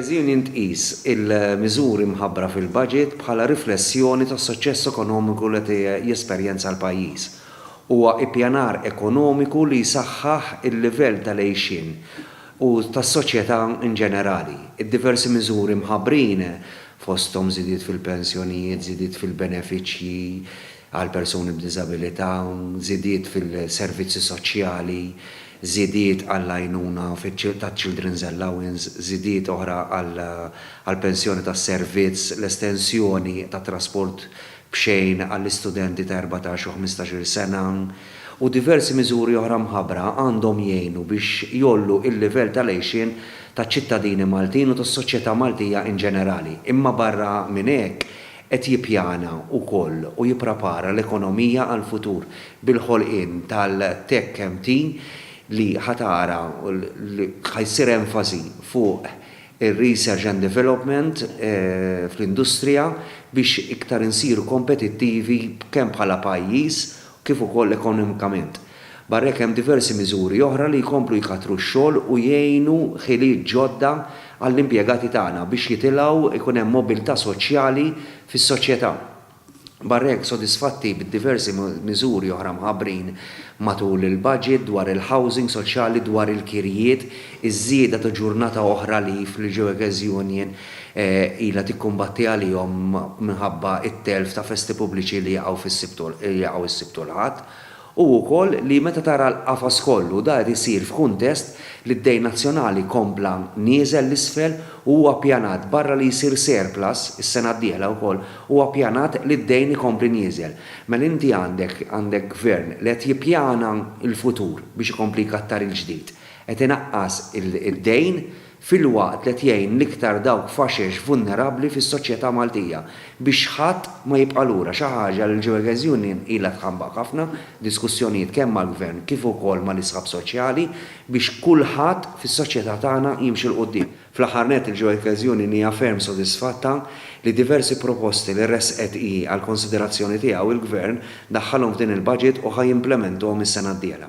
Twegezian intqis il-miżuri mħabbra fil-Baġit bħala riflessjoni tas-suċċess ekonomiku li qed jesperjenza l-pajjiż. Huwa ippjanar ekonomiku li jsaħħaħ il-livell tal-għixien u tas-soċjetà inġenerali. Id-diversi miżuri mħabbrin, fosthom żidiet fil-pensjonijiet, żidiet fil-benefiċċji, għal persuni b'diżabilità, żidiet fil-servizzi soċjali, żidiet għall-għajnuna taċ-Children's Allowance, żidiet oħra għall-pensjoni tas-servizz, l-estensjoni tat-trasport b'xejn għall-istudenti ta' erbatax u ħmistax-il sena, u diversi miżuri oħra mħabbra għandhom jgħinu biex jgħollu l-livell tal-għixien taċ-ċittadini Maltin u tas-soċjetà Maltija in ġenerali. Imma barra minn hekk, qed jippjana wkoll u jipprapara l-ekonomija għall-futur bil-ħolqien tal-TechMT li ħa tara li ħa jsir enfasi fuq ir-research and development fl-industrija biex iktar insiru kompetittivi kemm bħala pajjiż kif ukoll ekonomikament. Barra hekk hemm diversi miżuri oħra li jkomplu jkattru x-xogħol u jgħinu ħiliet ġodda għall-impjegati tagħna biex jitilgħu jkun hemm mobilità soċjali fis-soċjetà. Barra hekk sodisfatti bid-diversi miżuri oħra mħabbrin matul il-budget dwar il-housing soċjali, dwar il-kirjiet, iż-żieda ta' ġurnata oħra leave li ġew ekeżjonijen ilha tikkumbatti għalihom minħabba t-telf ta' festi pubbliċi li jaqgħu fis-Sibt u jaqgħu s-Sibt u l-Ħadd, u wkoll li meta tara l-qafas kollu, dan qed isir f'kuntest li d-dejn nazzjonali kompla nieżel 'l isfel u huwa ppjanat, barra li jsir surplus is-sena d-dieħla wkoll, huwa ppjanat li d-dejn ikompli nieżel. Mela inti għandek għandek Gvern li qed jippjana l-futur biex ikompli jkattar il-ġdid, qed inaqqas id-dejn filwaqt li qed jgħin l-iktar dawk faxex vulnerabbli fis-soċjetà Maltija biex ħadd ma jibqa' lura, xi ħaġa li l-Jewekers Union ilha tħabbaq ħafna f'diskussjonijiet kemm mal-Gvern kif ukoll mal-isħab soċjali biex kulħadd fis-soċjetà tagħna jimxi 'l quddiem. Fl-aħħar nett, il-Jewekers Union hija ferm sodisfatta li diversi proposti li ressqet hi għall-konsiderazzjoni tiegħu, il-Gvern daħħalhom f'din il-Budget u ħa jimplementuhom is-sena d-dieħla.